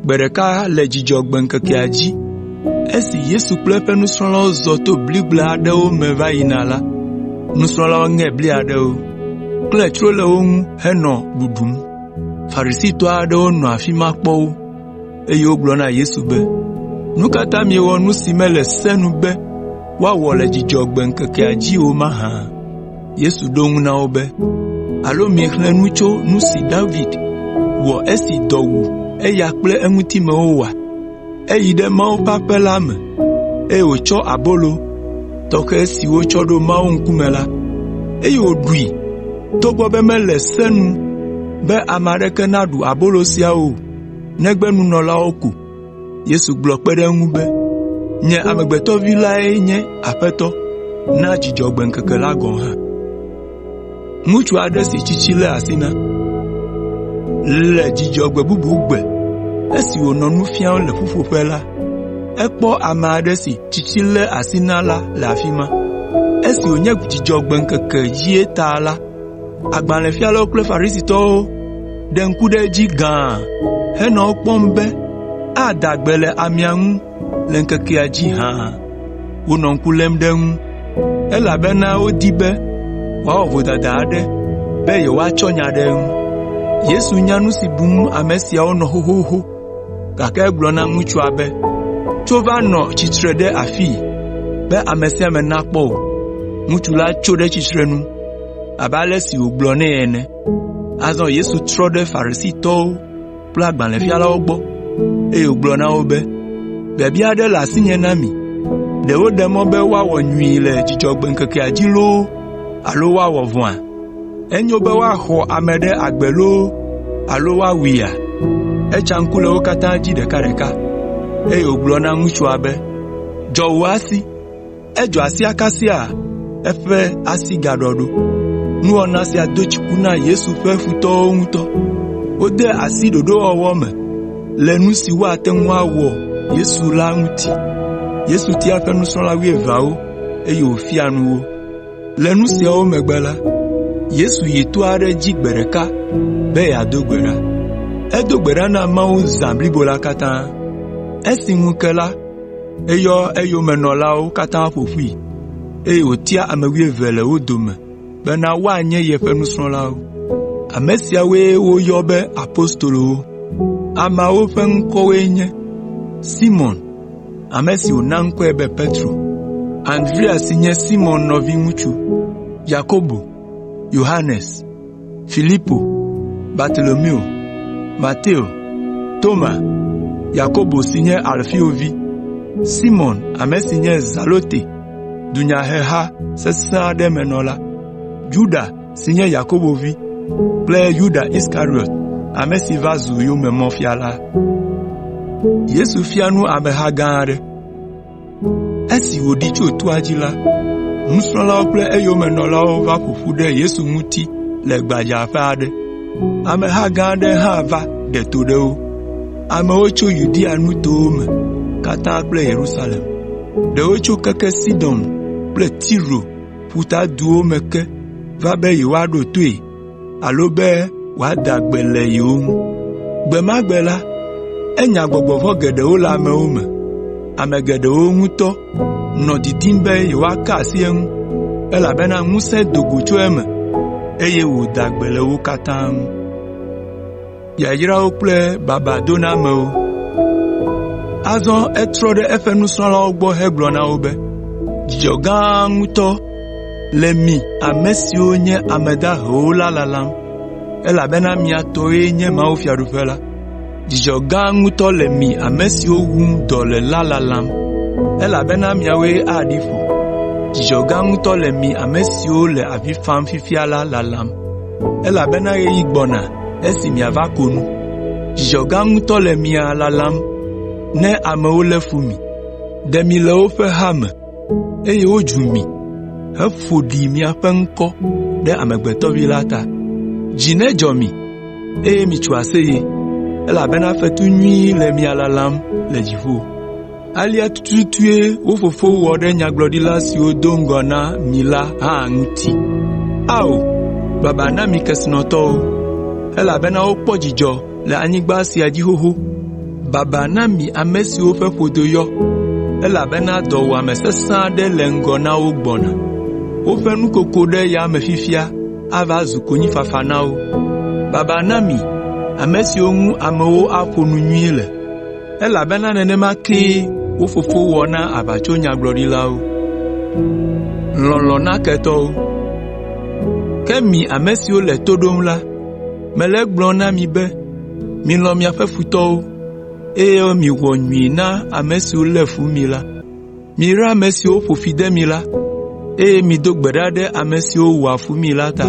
Gbe ɖeka le Dzudzɔgbe ŋkekea dzi esi Yesu kple eƒe nusrɔ̃lawo zɔ to bligble aɖewo me va yina la, nusrɔ̃lawo ŋe bli aɖewo, klẽ tsro le wo ŋu henɔ ɖuɖum. Farisitɔ aɖewo nɔ afi ma kpɔ wo, eye wogblɔ na Yesu be, “Nu ka ta miewɔ nu si mele se nu be woawɔ le Dzudzɔgbe ŋkekea dzi o mahã?” Yesu ɖo eŋu na wo be, “Alo miexlẽ nu tso nu si David wɔ esi dɔ wu eya kple eŋutimewo oa? Eyi ɖe Mawu ƒe aƒe la me, eye wòtsɔ abolo tɔxɛ si wotsɔ ɖo Mawu ŋkume la, eye wòɖui togbɔ be mele se nu be ame aɖeke naɖu abolo sia o. negbe nunɔlawo ko.” Yesu gblɔ kpe ɖe eŋu be, “Nye Amegbetɔ Vi lae nye Aƒetɔ na Dzudzɔgbe ŋkeke la gɔ̃ hã.” Le Dzudzɔgbe bubu gbe esi wònɔ nu fiam le ƒuƒoƒe la, ekpɔ ame aɖe si tsitsi lé asi na la le afi ma. Esi wònye Dzudzɔgbe ŋkeke dzie ta la, Agbalẽfialawo kple Farisitɔwo ɖe ŋku ɖe edzi gãa henɔ ekpɔm be ada gbe le amea ŋu le ŋkekea dzi hã. Wonɔ ŋku lém ɖe eŋu, elabena wodi be wòawɔ vodada aɖe be yewoatsɔ nya ɖe eŋu. Yesu nya nu si bum ame siawo nɔ xoxoxo, gake egblɔ na ŋutsua be, “Tso va nɔ tsitre ɖe afii be ame sia ame nakpɔ wò.” Ŋutsu la tso ɖe tsitrenu abe ale si wògblɔ nɛ ene. Azɔ Yesu trɔ ɖe Farisitɔwo kple agbalẽfialawo gbɔ, eye wògblɔ na wo be, “Biabia aɖe le asinye na mi: Ɖe woɖe mɔ be woawɔ nyui le Dzudzɔgbe ŋkekea dzi loo alo woawɔ vɔ̃a?” Enyo be woaxɔ ame ɖe agbe loo alo woawuia? Etsa ŋku le wo katã dzi ɖekaɖeka, eye wògblɔ na ŋutsua be, “Dzɔ wò asi!” Edzɔ asia kasia eƒe asi gaɖɔ ɖo. Nuwɔna sia do dziku na Yesu ƒe futɔwo ŋutɔ. Wode asi ɖoɖowɔwɔ me le nu si woate ŋu awɔ Yesu la ŋuti. Yesu tia eƒe nusrɔ̃la wuieveawo eye wòfia nu wo. Le nu siawo megbe la, Yesu yi to aɖe dzi gbe ɖeka be yeado gbe ɖa. Edo gbe ɖa na Mawu zã blibo la katã. Esi ŋu ke la, eyɔ eyomenɔlawo katã ƒo ƒui, eye wòtia ame wuieve le wo dome bena woanye yeƒe nusrɔ̃lawo. Ame siawoe woyɔ be apostolowo. Ameawo ƒe ŋkɔwoe nye: ame si wòna ŋkɔe be Petro, Andrea si nye Simɔn nɔviŋutsu, Yakobo, Yohanes, Filipo, Bartolomeo, Mateo, Toma, Yakobo si nye Alfeo vi, Simɔn ame si nye Zelote dunyaheha sesẽ aɖe me nɔla, Yuda si nye Yakobo vi, kple Yuda Iskariɔt, ame si va zu yomemɔfia la. Esi wòɖi tso toa dzi la, nusrɔ̃lawo kple eyomenɔlawo va ƒo ƒu ɖe Yesu ŋuti le gbadzaƒe aɖe. Ameha gã aɖe hã va ɖe to ɖe wo. Amewo tso Yudea nutowo me katã kple Yerusalem, ɖewo tso keke Sidon kple Tiro ƒutaduwo me ke va be yewoaɖo toe alo be wòada gbe le yewo ŋu. Gbe ma gbe la, enya gbɔgbɔ vɔ̃ geɖewo le amewo me. Ame geɖewo ŋutɔ nɔ didim be yewoaka asi eŋu, elabena ŋusẽ do go tso eme, eye wòda gbe le wo katã ŋu. yayrawo kple babadonamewo. Azɔ etrɔ ɖe eƒe nusrɔ̃lawo gbɔ hegblɔ na wo be, “Dzidzɔ gã ŋutɔ le mi ame siwo nye ame dahewo la lalam, elabena mia tɔe nye mawufiaɖuƒe la. Dzidzɔ gã ŋutɔ le mi ame siwo wum dɔ le la lalam, elabena miawoe aɖi ƒo. Dzidzɔ gã ŋutɔ le mi ame siwo le avi fam fifia la lalam.” elabena ɣeyiɣi gbɔna esi miava ko nu. Dzidzɔ gã ŋutɔ le mia lalam ne amewo lé fu mi, ɖe mi le woƒe ha me, eye wodzu mi heƒo ɖi miaƒe ŋkɔ ɖe Amegbetɔ Vi la ta. Dzi nedzɔ mi, eye mitso aseye, elabena fetu nyui le mia lalam le dziƒo. Alea tututue wo fofo wɔ ɖe nyagblɔɖila siwo do ŋgɔ na mi la hã ŋuti. Ao, baba na mi kesinɔtɔwo, elabena wokpɔ dzidzɔ le anyigba sia dzi xoxo. Baba na mi ame siwo ƒe ƒodo yɔ, elabena dɔwuame sesẽ aɖe le ŋgɔ na wo gbɔna. Woƒe nukoko ɖe yame fifia ava zu konyifafa na wo. Baba na mi ame siwo ŋu amewo aƒo nu nyui le. Elabena nenema kee wo fofo wɔ na aʋatsonyagblɔɖilawo. Lɔlɔ̃ na ketɔwo. Ke mi ame siwo le to ɖom la, mele egblɔm na mi be milɔ̃ miaƒe futɔwo, eye miwɔ nyui na ame siwo lé fu mi la. Miyra ame siwo ƒo fi de mi la, eye mido gbe ɖa ɖe ame siwo wɔa fu mi la ta.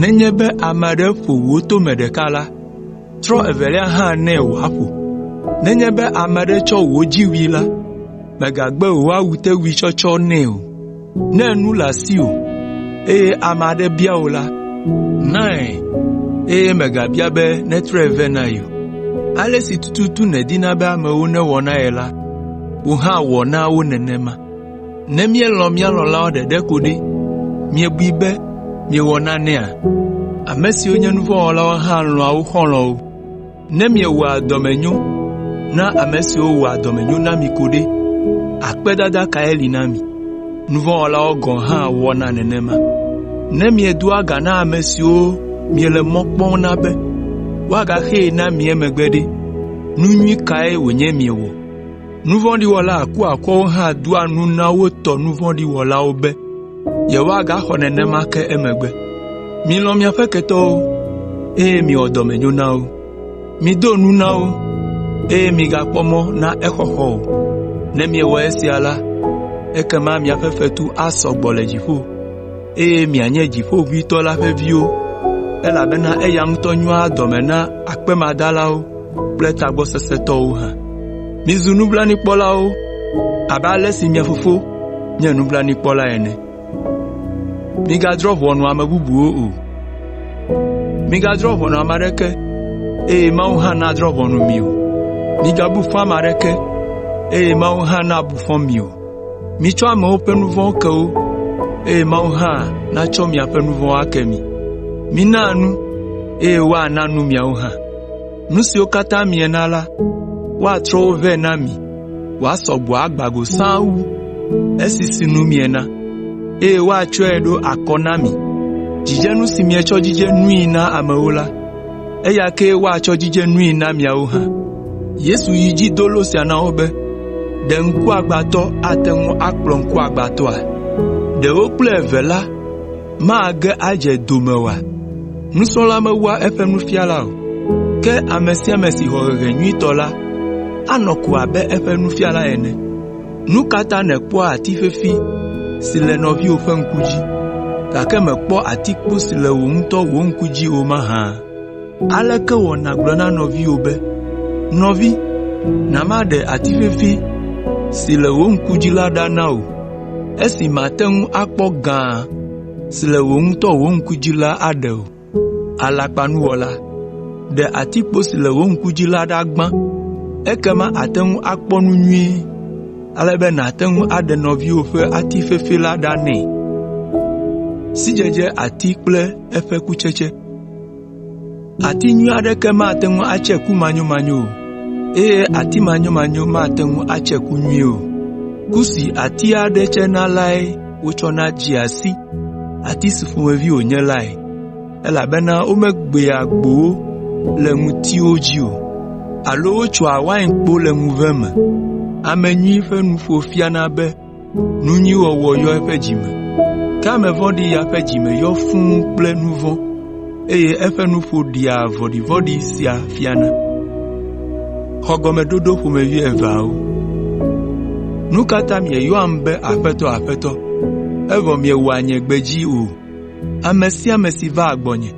Nenye be ame aɖe ƒo wò tome ɖeka la, trɔ evelia hã nɛ wòaƒo. Nenye be ame aɖe tsɔ wò dziwui la, mègagbe wò awutewui tsɔtsɔ nɛ o. Ne nu le asiwò, eye ame aɖe bia wò la, nae, eye mègabia be netrɔe vɛ na ye o. Ale si tututu nèdina be amewo nawɔ na ye la, wò hã wɔ na wo nenema. Ne míelɔ̃ mía lɔ̃lawo ɖeɖe ko ɖe, miebui be miewɔ nanea? Ame siwo nye nu vɔ̃ wɔlawo hã lɔ̃a wo xɔlɔ̃wo. Ne miewɔa dɔmenyo na ame siwo wɔa dɔmenyo na mi ko ɖe, akpedada kae li na mi? Nu vɔ̃ wɔlawo gɔ̃ hã wɔna nenema. Ne miedoa ga na ame siwo miele mɔ kpɔm na be woagaxee na mi emegbe ɖe, nu nyui kae wònye miewɔ? Nu vɔ̃ɖi wɔla kuakuawo hã doa nu na wo tɔ nu vɔ̃ɖi wɔlawo be yewoagaxɔ nenema ke emegbe. Milɔ̃ miaƒe ketɔwo, eye miwɔ dɔmenyo na wo. Mido nu na wo, eye migakpɔ mɔ na exɔxɔ o. Ne miewɔ esia la, ekema miaƒe fetu asɔ gbɔ le dziƒo, eye mianye Dziƒoʋĩtɔ la ƒe viwo, elabena eya ŋutɔ nyoa dɔme na akpemadalawo. kple tagbɔ sesẽ tɔwo hã. Mizu nublanuikpɔlawo abe ale si mia Fofo nye nublanuikpɔla ene. Migadrɔ̃ ʋɔnu ame bubuwo o. Migadrɔ̃ ʋɔnu ame aɖeke, eye Mawu hã nadrɔ̃ ʋɔnu mi o. Migabu fɔ ame aɖeke, eye Mawu hã nabu fɔ mi o. Mitsɔ amewo ƒe nu vɔ̃wo ke wo, eye Mawu hã natsɔ miaƒe nu vɔ̃wo ake mi. Mina nu, eye woana nu miawo hã. Nu siwo katã miena la, woatrɔ wo vɛ na mi wòasɔ gbɔ agbã go sãa wu esi sinu miena, eye woatsɔe aɖo akɔ na mi. Dzidzenu si mietsɔ dzidze nui na amewo la, eya kee woatsɔ adzidze nui na miawo hã.” Yesu yi edzi do lo sia na wo be, “Ɖe ŋkuagbãtɔ ate ŋu akplɔ ŋkuagbãtɔa? Ɖe wo kple eve la mage adze do me oa? Nusrɔ̃la mewua eƒe nufiala o, ke ame sia ame si xɔ hehe nyuitɔ la, anɔ ko abe eƒe nufiala ene. Nu ka ta nèkpɔa ati fefi si le nɔviwò ƒe ŋku dzi, gake mèkpɔ atikpo si le wò ŋutɔ wò ŋku dzi o mahã? “Aleke wɔ nàgblɔ na nɔviwò be, ‘Nɔvi, na maɖe ati fefi si le wò ŋku dzi la ɖa na wò,’ esi màte ŋu akpɔ gã si le wò ŋutɔ wò ŋku dzi la aɖe o? Alakpanuwɔla! Ɖe atikpo si le wò ŋku dzi la ɖa gbã, ekema àte ŋu akpɔ nu nyuie ale be nàte ŋu aɖe nɔviwò ƒe ati fefi la ɖa nɛ.” “Ati nyui aɖeke mate ŋu atse ku manyomanyo o, eye ati manyomanyo mate ŋu atse ku nyui o. Ku si ati aɖe tsena lae wotsɔna dzea si ati si ƒomevi wònye lae, elabena womegbea gbowo le ŋutiwo dzi o, alo wotsoa wainkpo le ŋuve me. Ame nyui ƒe nuƒo fiana be nu nyui wɔwɔ yɔ eƒe dzi me, ke ame vɔ̃ɖi ya ƒe dzi me yɔ fũ kple nu vɔ̃, eye eƒe nuƒo ɖea vɔ̃ɖivɔ̃ɖi sia fiana.” Nu ka ta mieyɔam be ‘Aƒetɔ, Aƒetɔ,’ evɔ miewɔa nye gbe dzi o? Ame sia ame si vaa gbɔnye,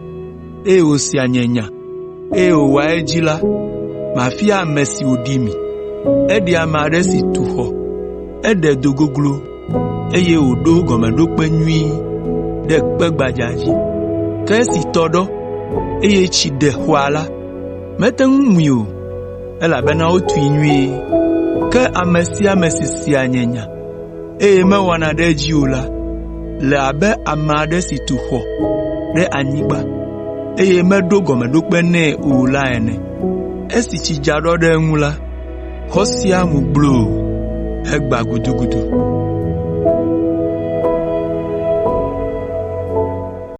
eye wòsea nye nya, eye wòwɔa edzi la, mafia ame si wòɖi mi. Eɖea ame aɖe si tu xɔ, eɖe do goglo, eye wòɖo gɔmeɖokpe nyui ɖe kpe gbadza dzi. Ke esi tɔ ɖɔ, eye tsi ɖe xɔa la, mete ŋu mui o, elabena wotui nyuie. Ke ame sia ame si sea nye nya, eye mewɔna ɖe edzi o la le abe ame aɖe si tu xɔ ɖe anyigba, eye meɖo gɔmeɖokpe nɛ o la ene. Esi tsi dza ɖɔ ɖe eŋu la, xɔ sia mu gbloo hegbã gudugudu.”